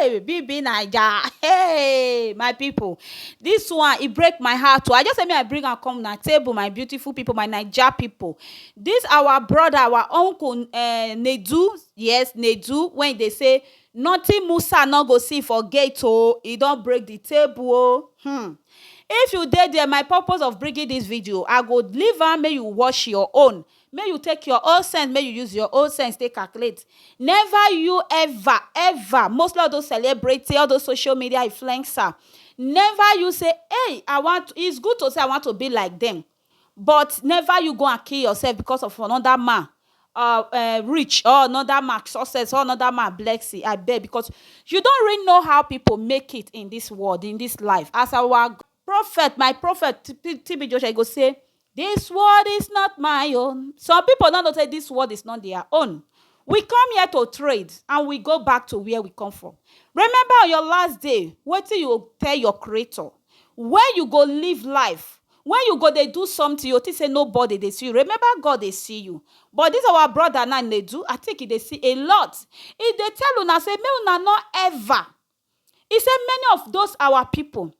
Hey, BB Naija. Hey, my people. This one, it break my heart. oh. I just say me I bring am come na table, my beautiful people, my Naija people. This our brother, our uncle, uh, Nedu, yes, Nedu, when they say, nothing Musa no go see for gate, oh, he don break the table, oh. Hmm. If you dey there, my purpose of bringing this video, I go leave am make you watch your own. make you take your own sense make you use your own sense take calculate never you ever ever mostly all those celebrity all those social media influencer never you say hey I want it's good to say I want to be like them but never you go and kill yourself because of another man uh, uh, rich or another man success or another man blessing I beg because you don't really know how people make it in this world in this life as our prophet my prophet TB Joshua go say This world is not my own some people no know say this world is not their own we come here to trade and we go back to where we come from remember on your last day wetin you go tell your creator when you go live life when you go dey do something you think say nobody dey see you remember God dey see you but this our brother now dey do I think he dey see a lot he dey tell una say make una no ever he say many of those our people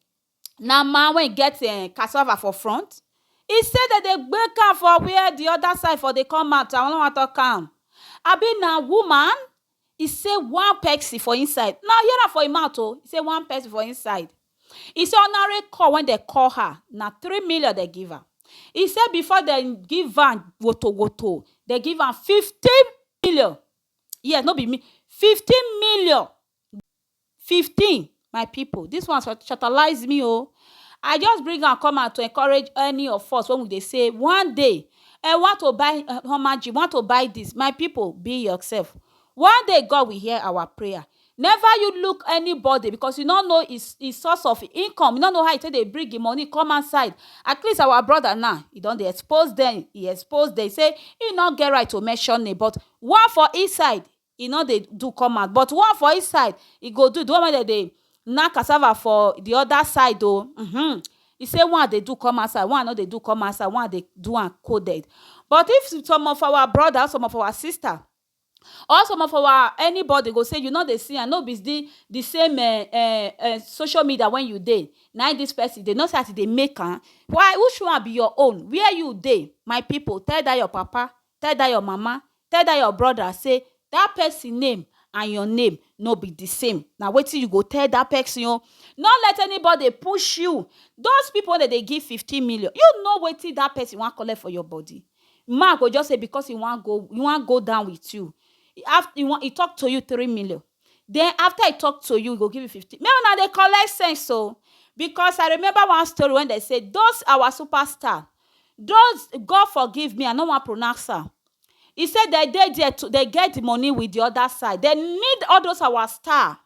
na man wey get um cassava for front e say dem dey gbek am for where the other side for dey come out i no wan talk am abi na woman e say one person for inside na hear am for him mouth o e say one person for inside e say ordinary call wey dem call her na three million dem give am e say before dem give am woto woto dem give am fifteen million yes no be me fifteen million fifteen my people this one shatalayz me o I just bring am come out to encourage any of us wey we dey say one day I want to buy hama gym want to buy this my people be yourself one day God will hear our prayer never you look anybody because you no know his his source of income you no know how e take dey bring him money come outside at least our brother now e don dey expose dem e expose dem say him no get right to mention name but one for inside e no dey do come out but one for inside e go do, di one wey dem dey knack cassava for di oda side o uhmm e say one dey do come outside one no dey do come outside one dey do am coded but if some of our broda or some of our sista or some of our anybody go say you no dey see am no be di di same eh eh eh social media wey you dey na im dis pesin dey, you no see as e dey make am why who show am be your own where you dey my pipo tell dat your papa Tell dat your mama, tell dat your broda sey dat pesin name and your name no be di same. Na wetin you go tell dat pesin o. No let anybody push you. Those pipu wey dem dey give fifteen million, you know wetin dat pesin wan collect for your body? Man go just say because e wan go e wan go down with you, e tok to you three million, then after I talk to you, I go give you 15. May una dey collect sense so because I remember one story when they say those our superstar, those God forgive me, I no wan pronounce am. He said they dey there to they get the money with the other side. They need all those our star.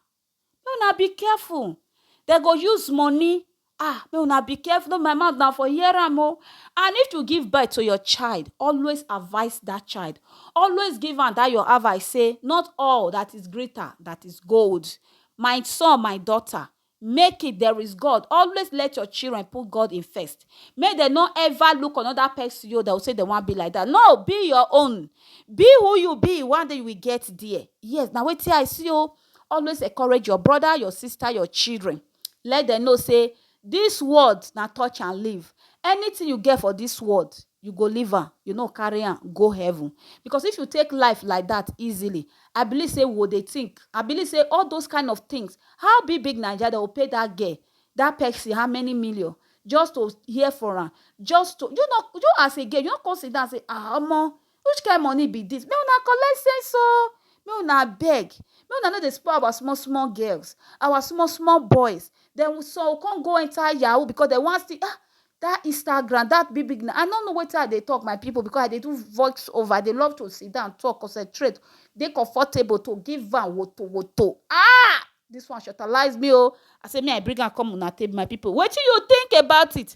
May una be careful. They go use money ah make una be careful no be my mouth na for hear am o and if you give birth to your child always advice that child always give am that your advice say not all that is greater that is gold my son my daughter make it there is God always let your children put God in first make dem no ever look another person yo dem say dem wan be like that no be your own be who you be one day you will get there yes na wetin I see o always encourage your brother your sister your children let dem know sey dis world na touch and leave. Anything you get for dis world, you go leave am, you no carry am go heaven. Because if you take life like dat easily, I believe sey we go dey think, I believe sey all those kind of things, how big big Naija, de go pay dat girl, dat pesin how many million just to hear for am, just to, do you know, do you know as a girl, you no con sit down sey um omoh, Which kind money be this? Make una collect sense o! Make una abeg, make una no dey spoil our small small girls, our small small boys. Dem some go come go enter yahoo because dem wan still ah! That Instagram, that big big na I no know wetin I dey talk my people because I dey do voice over, I dey love to sit down talk, concentrate, dey comfortable to give am woto woto. Ah! This one shortalize me o! I say make I bring am come una table my people. Wetin you think about it?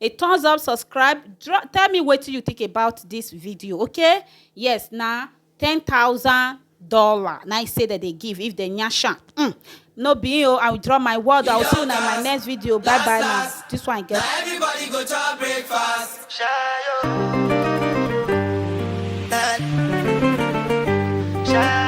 a thumbs up subscribe drop tell me wetin you think about this video okay yes na ten thousand dollar na i say that they give if they nyash am mm. no be you. i will draw my word i will see you in my next video bye bye now this one get. everybody go chop breakfast. Shayo.